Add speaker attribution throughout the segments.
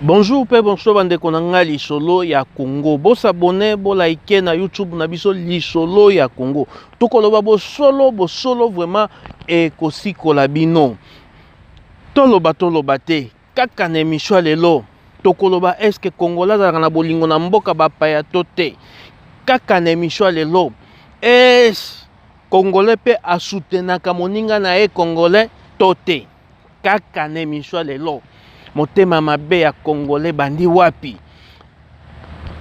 Speaker 1: bonjour mpe bonso bandeko na ngai lisolo ya congo bosabone bolaike na youtube na biso lisolo ya congo tokoloba bosolo bosolo vraiment ekosikola bino toloba toloba te Kaka na emission lelo tokoloba est-ce que Congolais azalaka na bolingo na mboka bapaya to te. Kaka na emission lelo est Congolais pe asutenaka moninga na ye Congolais to te. Kaka na emission lelo motema mabe ya Congolais bandi wapi?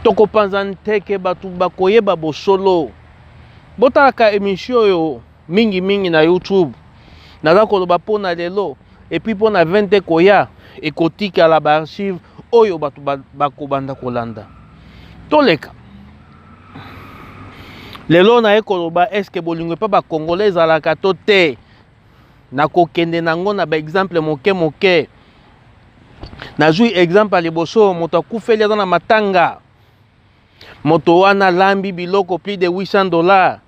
Speaker 1: Tokopanza nteke bato bakoyeba bosolo. botalaka emission oyo mingi mingi na youtube naza koloba mpo na lelo epuis mpo na 20 te koya ekotikala baarchive oyo bato bakobanda kolanda toleka lelo naye koloba eske bolingo epa bakongola ezalaka to te nakokende nango na baexemple moke moke nazwi exemple ya liboso moto akufeli aza na matanga moto wana alambi biloko plus de 800 dollars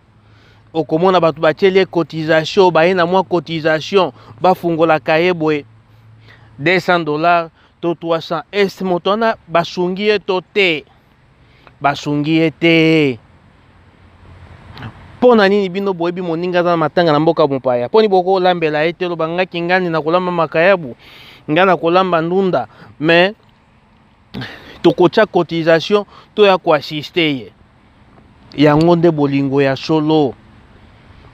Speaker 1: okomona bato batyeli ye cotisation baye na mwa cotisation bafungolaka ye boye 200 dollars to 300 est moto wana basungi ye to te basungi ye te mpo na nini bino boyebi moninga aza na matanga na mboka mopaya mpo nini bokolambela ye te loba ngai kingani nakolamba makayabu ngai nakolamba ndunda mais tokotya cotisation to ya koassiste ye yango nde bolingo ya solo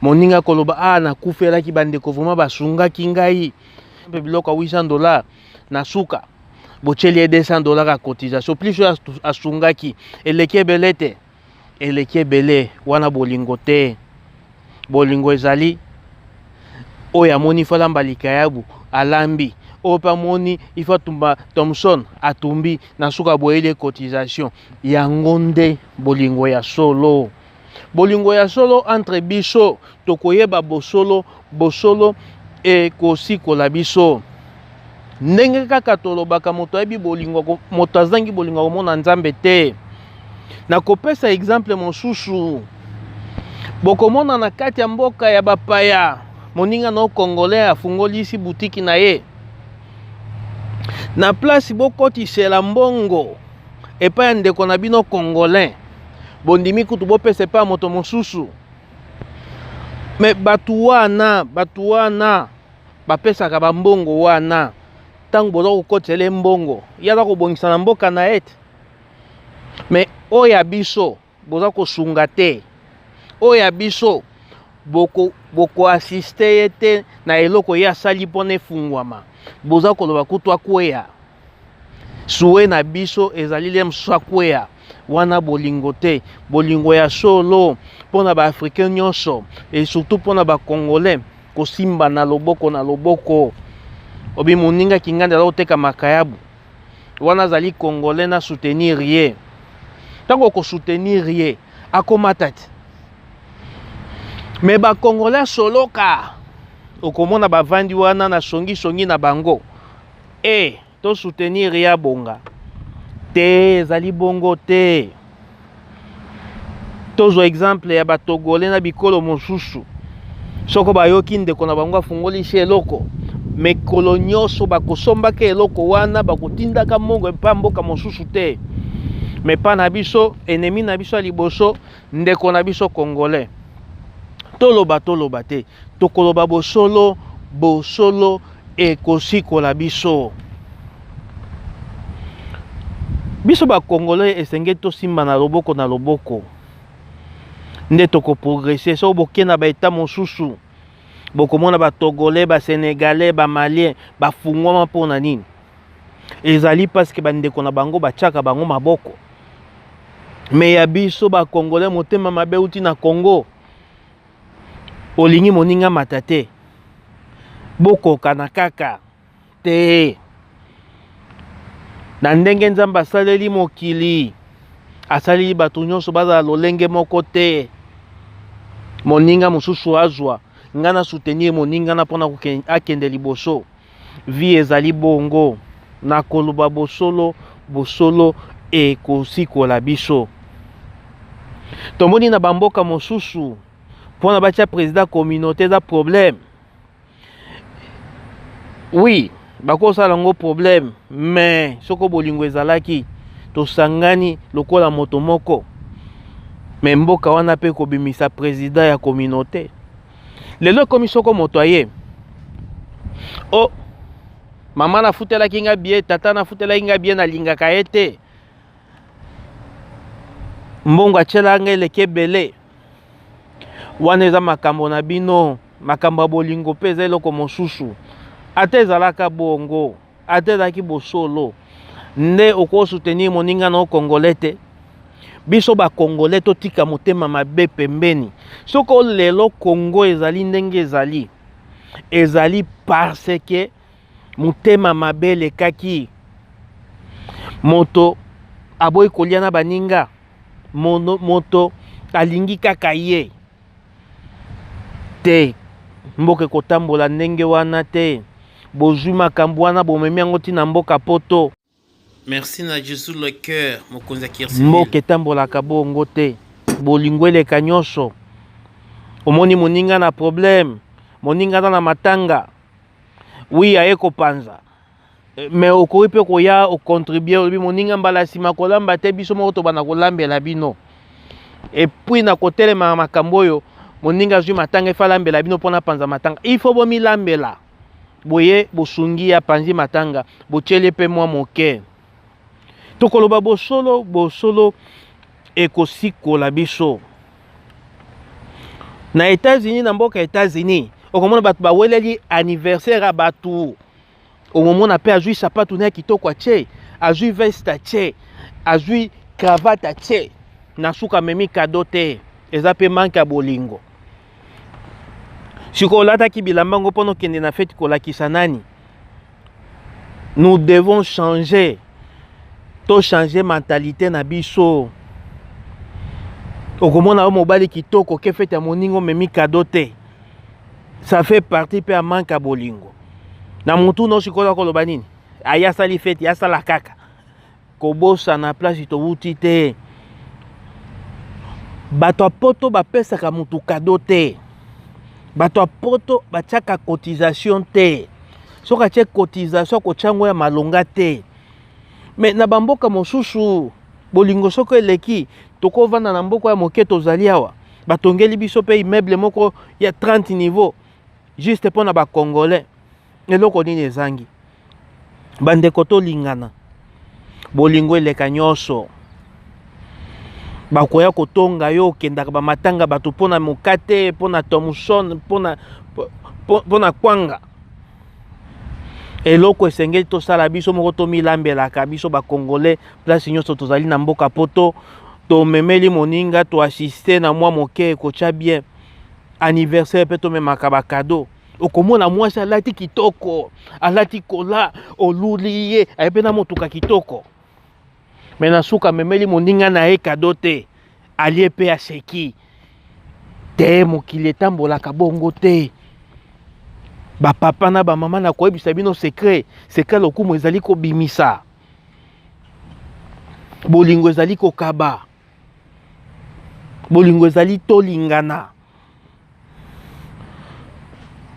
Speaker 1: moninga akoloba a ah, nakufelaki bandeko vraimen basungaki ngai mpe biloko ya 800 dollar na suka botyeli ye 200 dollar ya cotisation plus oyo asungaki eleki ebele te eleki ebele wana bolingo te bolingo ezali oyo amoni ifa alamba likayabu alambi oyo mpe amoni ifa tumba thomson atumbi na suka boyeli ye cotisation yango nde bolingo ya solo bolingo ya solo entre biso tokoyeba bosolo bosolo ekosikola biso ndenge kaka tolobaka moto ayebi bolingo moto azangi bolingo akomona nzambe te nakopesa exemple mosusu bokomona na kati ya mboka ya bapaya moninga na congolais afungolisi butiki na ye na place bokotisela mbongo epai ya ndeko na bino congolais bondimi kutu bopesa epai ya moto mosusu me bato wana bato wana bapesaka bambongo wana ntango boza kokotela ye mbongo ye aza kobongisa na mboka na ye te me oyo ya biso boza kosunga te oyo ya biso bokoasiste boko ye te na eloko ye asali mpona efungwama boza koloba kutu akweya Souhait na biso ezali lem swakwea wana bolingo te bolingo ya solo mpo na baafricain nyonso e surtout mpo na bacongolais kosimba na loboko na loboko obi moninga kinganda aza koteka makayabu wana azali congolais na soutenir ye ntango okosoutenir ye akomata te me bacongolais soloka okomona bavandi wana na songisongi na bango E eh, to soutenir ya bonga te ezali bongo te. Tozwa exemple ya batogole na bikolo mosusu soko bayoki ndeko na bango afungolisi eloko mikolo nyonso bakosombaka eloko wana bakotindaka mongo epa mboka mosusu te mepa na biso enemi na biso ya liboso ndeko na biso congolais toloba toloba te tokoloba bosolo bosolo ekosikola biso biso bakongolais esengeli tosimba na loboko na loboko nde tokoprogrese soko boke na baeta mosusu bokomona batogolais basenegalais bamalien bafungwama mpo na nini ezali parce que bandeko na bango batiaka bango maboko me ya biso bakongole motema mabe uti na congo olingi moninga mata te bokokana kaka te na ndenge nzambe asaleli mokili asaleli bato nyonso bazala lolenge moko te moninga mosusu azwa ngai na soutenir moninga na mpona akende liboso Vie ezali bongo na koloba bosolo, bosolo ekosikola biso. Tomoni na bamboka mosusu mpo na batya président communauté eza problème oui bakosala yango problème mais soko bolingo ezalaki tosangani lokola moto moko mais mboka wana mpe kobimisa président ya communauté lelo ekomi soko moto aye o oh, mama nafutelaki nga bie tata nafutelaki nga bie nalingaka ye te mbongo atyela nga eleki ebele wana eza makambo na bino makambo ya bolingo mpe eza eloko mosusu ata ezalaka bongo ata ezalaki bosolo nde okosoutenir moninga na yo congolais te biso bakongolais totika motema mabe pembeni soko lelo kongo ezali ndenge ezali ezali parce que motema mabe elekaki moto aboyi kolia na baninga moto alingi kaka ye te mboka ekotambola ndenge wana te bozwi makambo wana bomemi yango ntina mboka poto merci
Speaker 2: na jesus le cœur mokonzi ya kirsi mboka etambolaka
Speaker 1: bongo te bolingo eleka nyonso omoni moninga na problème moninga na na matanga wi aye kopanza Eh, me okoki mpe koya ocontribue olobi moninga mbala nsima kolamba te biso moko tobanda kolambela bino epuis na kotelema na makambo oyo moninga azwi matanga efa alambela bino mpo napanza matanga ifo bomilambela boye bosungi ya panzi matanga botyeli mpe mwa moke tokoloba bosolo bosolo ekosikola biso na etats-unis na mboka etats-unis okomona bato baweleli anniversaire ya bato omomona mpe azwi sapatu na ye kitoko atye azwi veste atye azwi cravate atye na suka amemi kado te eza mpe manke ya bolingo sikoyo olataki bilamba yango mpo nokende na feti kolakisa nani nous devons changer tochange mentalité na biso okomona yo mobali kitoko ke fete ya moninga omemi kado te ça fait partie mpe ya manque ya bolingo na motu no sikoyo akoloba nini aye asali feti asala kaka kobosana place towuti te bato ya poto bapesaka motu kado te bato ya poto batiaka cotisation te soki atye cotisation akotya yango ya malonga te Mais na ba mboka mosusu bolingo soko eleki toko vanda na mboka ya moke tozali awa batongeli biso pe immeuble moko ya 30 niveau juste pona ba congolais eloko nini ezangi bandeko tolingana bolingo eleka nyonso bakoya kotonga yo okendaka bamatanga bato mpo na mokate mpo na thomson mpo na kwanga eloko esengeli tosala biso moko tomilambelaka biso bakongole place nyonso tozali na mboka poto tomemeli moninga toassiste na mwa moke ekotya bien anniversaire mpe tomemaka bakado okomona mwasi alati kitoko alati kola oluli ye aye mpe na motuka kitoko me na suka amemeli moninga na ye kado te alie mpe aseki te mokili etambolaka bongo te bapapa na bamama na koyebisa bino sekre sekre lokumu ezali kobimisa bolingo ezali kokaba bolingo ezali tolingana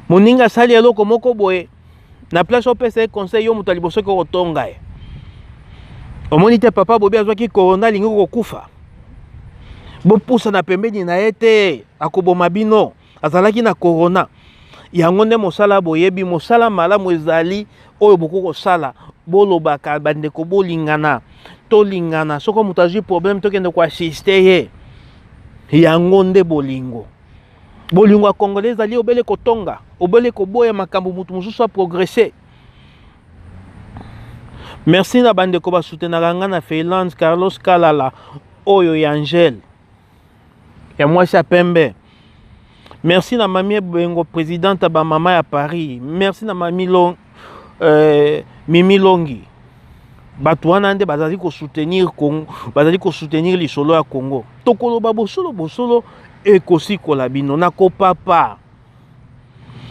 Speaker 1: moninga asali eloko moko boye na place opesa ye conseil yo moto ya liboso ke otonga ye omoni te papa bobi azwaki corona alingi kokufa bopusana pembeni na ye te akoboma bino azalaki na corona yango nde mosala boyebi mosala malamu ezali oyo bokoki kosala bolobaka bandeko bolingana tolingana soko moto azwi problème tokende koassiste ye yango nde bolingo bolingo ya congolais ezali obele kotonga obele koboya makambo moto mosusu aprogresse merci na bandeko basutenaka ngai na finlande carlos kalala oyo ya angele ya mwasi ya pembe merci na mami ebengo présidente ya bamama ya paris merci na mami long, euh, mimi longi bato wana nde bazali kosoutenir congo bazali kosoutenir lisolo ya congo tokoloba bosolo bosolo ekosikola bino nakopapa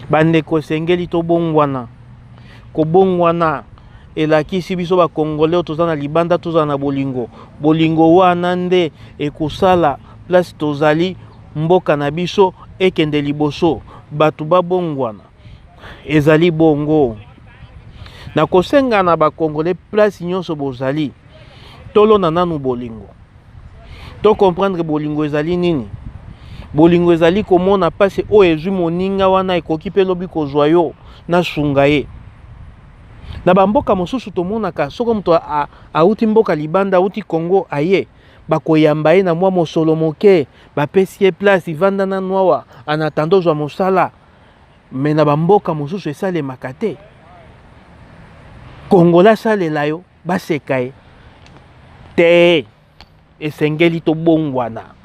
Speaker 1: bandeko esengeli tobongwana kobongwana elakisi biso bakongole oyo toza na libanda tozala na bolingo bolingo wana nde ekosala place tozali mboka na biso ekende liboso bato babongwana ezali bongo na kosenga na bakongole place nyonso bozali tolona nanu bolingo To comprendre bolingo ezali nini? Bolingo ezali komona pasi oyo ezwi moninga wana ekoki mpe lobi kozwa yo na sunga ye. Na bamboka mosusu tomonaka soko moto auti mboka libanda auti Congo aye bakoyamba ye na mwa mosolo moke bapesi ye place ivanda na nwawa anatanda ozwa mosala me na bamboka mosusu esalemaka te kongola asalela yo baseka ye te esengeli tobongwana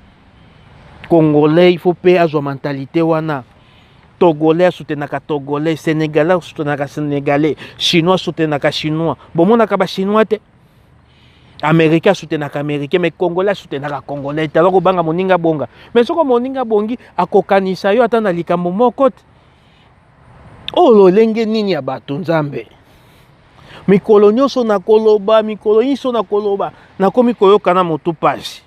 Speaker 1: congolais il faut mpe azwa mentalite wana togolais asutenaka togolais sénégalais asutenaka sénégalais chinois asutenaka chinois bomonaka bachinois te américain asutenaka américain mais congolais asutenaka congolais te aza kobanga moninga bonga mais soko moninga bongi akokanisa yo ata na likambo moko te oyo lolenge nini ya bato nzambe mikolo nyonso nakoloba mikolo nyonso nakoloba nakomi koyoka na motu mpasi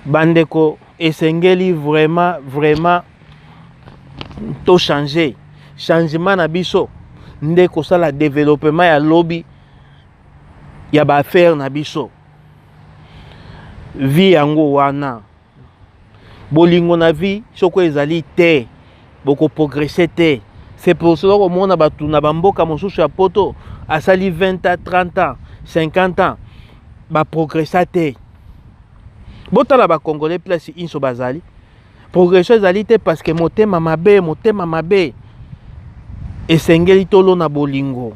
Speaker 1: bandeko esengeli vraiment vraiment to change changement na biso nde kosala developema ya lobi ya baaffaire na biso vi yango wana bolingo na vie soko ezali te bokoprogresse te c'est pour cela okomona bato na bamboka mosusu ya poto asali 20 ans 30 ans 50 ans baprogressa te botala bacongolais place inso bazali progression ezali te parce que motema mabe motema mabe esengeli tolona bolingo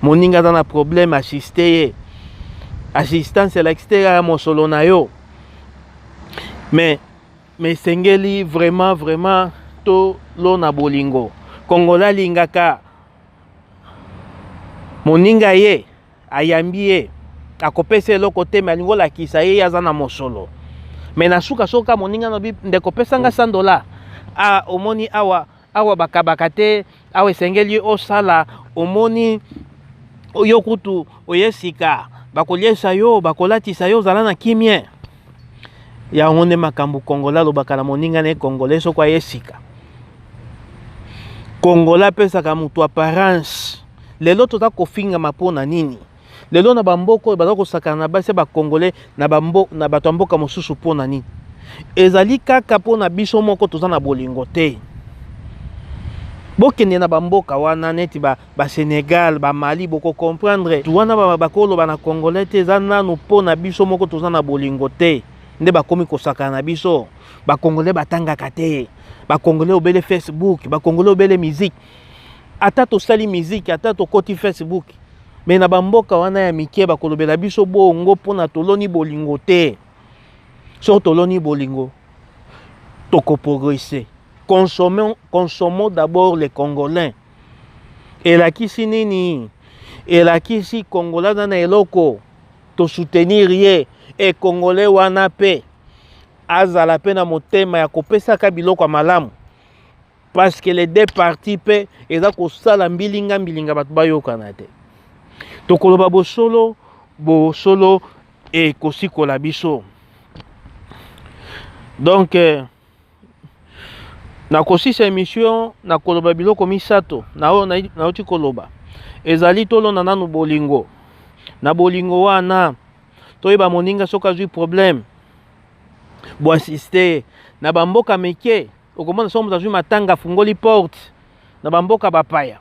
Speaker 1: moninga aza na problème asiste ye assistance elakisi te kaka mosolo na yo mais mais esengeli vraiment vraiment tolona bolingo kongola alingaka moninga ye ayambi ye akopesa eloko te me alingi olakisa ye ye aza na mosolo me na suka soka moninga na bi ndeko pesa nga 100 dola a ah, omoni awa awa bakabaka te awa esengeli osala omoni oyo kutu oye sika bakolyesa yo bakolatisa yo ozala na kimia yango nde makambo kongola alobaka na moninga na ye kongola soko aye sika kongola apesaka moto apparence lelo toza kofingama mpo na nini lelo na bamboka oyo baza kosakana na basi ya bakongole na bato ya mboka mosusu mpo na nini ezali kaka mpo na biso moko toza na bolingo te bokende na bamboka wana neti basenegal ba bamali bokokomprendre wana bakoloba na congolais te eza nanu mpo na biso moko toza na bolingo te nde bakomi kosakana na biso bakongole batangaka te bakongole obele facebook bakongole obele miziki ata tosali miziki ata tokoti facebook me na bamboka wana ya mike bakolobela biso bongo mpona toloni bolingo te soki toloni bolingo tokoprogrese consommons d'abord les congolais elakisi nini elakisi kongola aza na eloko tosoutenir ye ekongole wana mpe azala mpe na motema ya kopesaka biloko ya malamu parce que les deux parties mpe eza kosala mbilinga mbilinga bato bayokana te tokoloba bosolo bosolo ekosikola biso donc eh, nakosisa emission nakoloba biloko misato na oyo nauti koloba ezali tolona nanu bolingo na bolingo wana toyeba moninga soki azwi problème boassiste na bamboka mike okomona soko moto azwi matanga afungoli porte na bamboka bapaya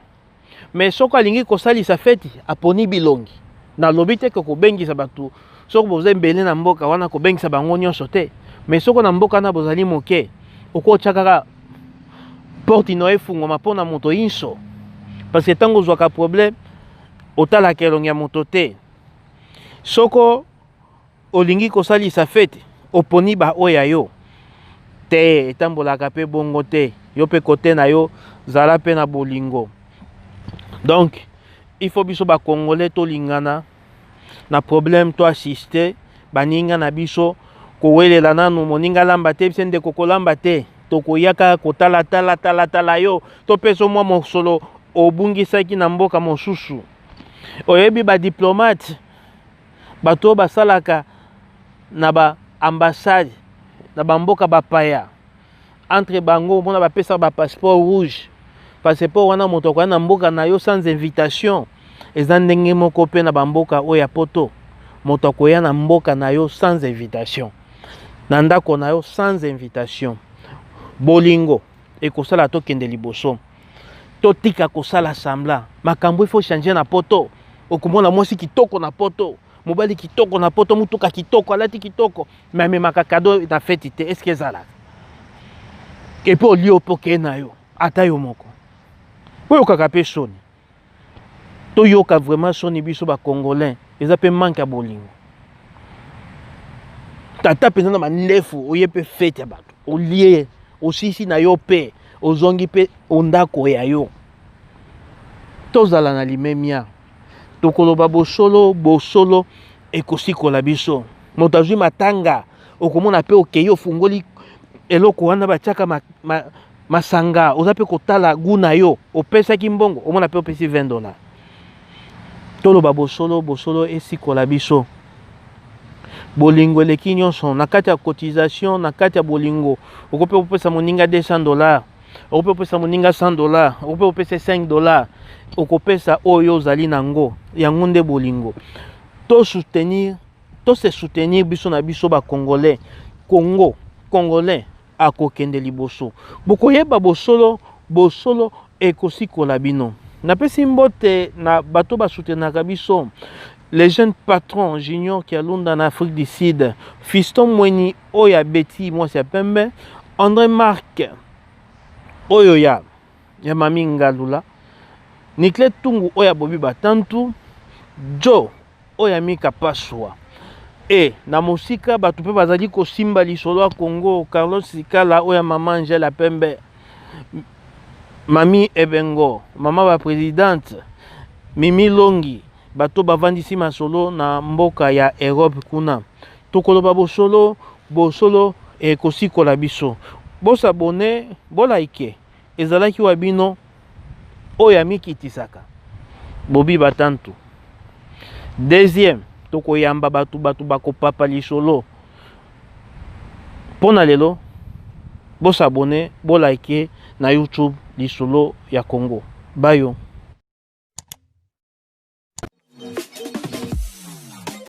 Speaker 1: me soko alingi kosalisa feti aponi bilongi nalobi te ke kobengisa bato soko boza ebele na mboka wana kobengisa bango nyonso te me soko na mboka wana bozali moke okotya kaka porte ino efungwama mpo na moto inso parce que ntango ozwaka problème otalaka elongi ya moto te soko Olingi kosalisa feti, oponi ba oyo ya yo te, etambolaka pe bongo te. Yo pe kote na yo, zala pe na bolingo. Donc, il faut biso ba Congolais tolingana na problème to assister baninga na biso kowelela nanu moninga lamba te bise ndeko kolamba te tokoyaka kotala tala tala tala yo topeso mwa mosolo obungisaki na mboka mosusu oyebi badiplomate bato oyo basalaka na ba ambassade na bamboka bapaya entre bango omona bapesaka bapasseport rouge passeport wana moto akoya na mboka na yo sans invitation eza ndenge moko mpe na bamboka oyo ya poto moto akoya na mboka na yo sans invitation na ndako na yo sans invitation bolingo ekosala tokende liboso totika kosala sambla makambo ifo change na poto okomona mwasi kitoko na poto mobali kitoko na poto motuka kitoko alati kitoko me amemaka kado na feti te eske ezalaka epe olie ope okei na yo ata yo moko oyokaka mpe soni toyoka vraiment soni biso ba congolais eza pe manque ya bolingo tata mpenza na mandefu oye mpe fete ya bato olie osisi na yo mpe ozongi mpe ondako ya yo tozala na limemia tokoloba bosolo bosolo ekosikola biso moto azwi matanga okomona mpe okei ofungoli eloko wana batiaka ma, ma, masanga oza mpe kotala gu na yo opesaki mbongo omona mpe opesi 20 dollar toloba bosolo bosolo esikola biso bolingo eleki nyonso na kati ya cotisation na kati ya bolingo okoki mpe kopesa moninga 200 dollar okoki mpe kopesa moninga 100 dollar okoki mpe kopesa 5 dollar okopesa oyo ozali na yango yango nde bolingo to soutenir to se soutenir biso na biso ba congolais congo congolais akokende liboso. Bokoyeba bosolo, bosolo ekosikola bino. Napesi mbote na bato basutenaka biso le jeune patron junior kialunda na afrique du sud fiston mweni oyo abeti mwasi ya pembe andré mark oyo ya ya mami ngalula niclet tungu oyo abobi batantu joe oyo ya mika paswa e na mosika bato mpe bazali kosimba lisolo ya congo carlos sikala oyo ya mama angela pembe mami ebengo mama bapresidente mimi longi bato bavandisi masolo na mboka ya europe kuna tokoloba bosolo bosolo ekosikola biso bosabone bolaike Ezalaki wa bino oyo amikitisaka bobi batantu. Deuxième, tokoyamba bato bato bakopapa lisolo mpo na lelo. Bosabone, bolike na YouTube lisolo ya Congo bayo.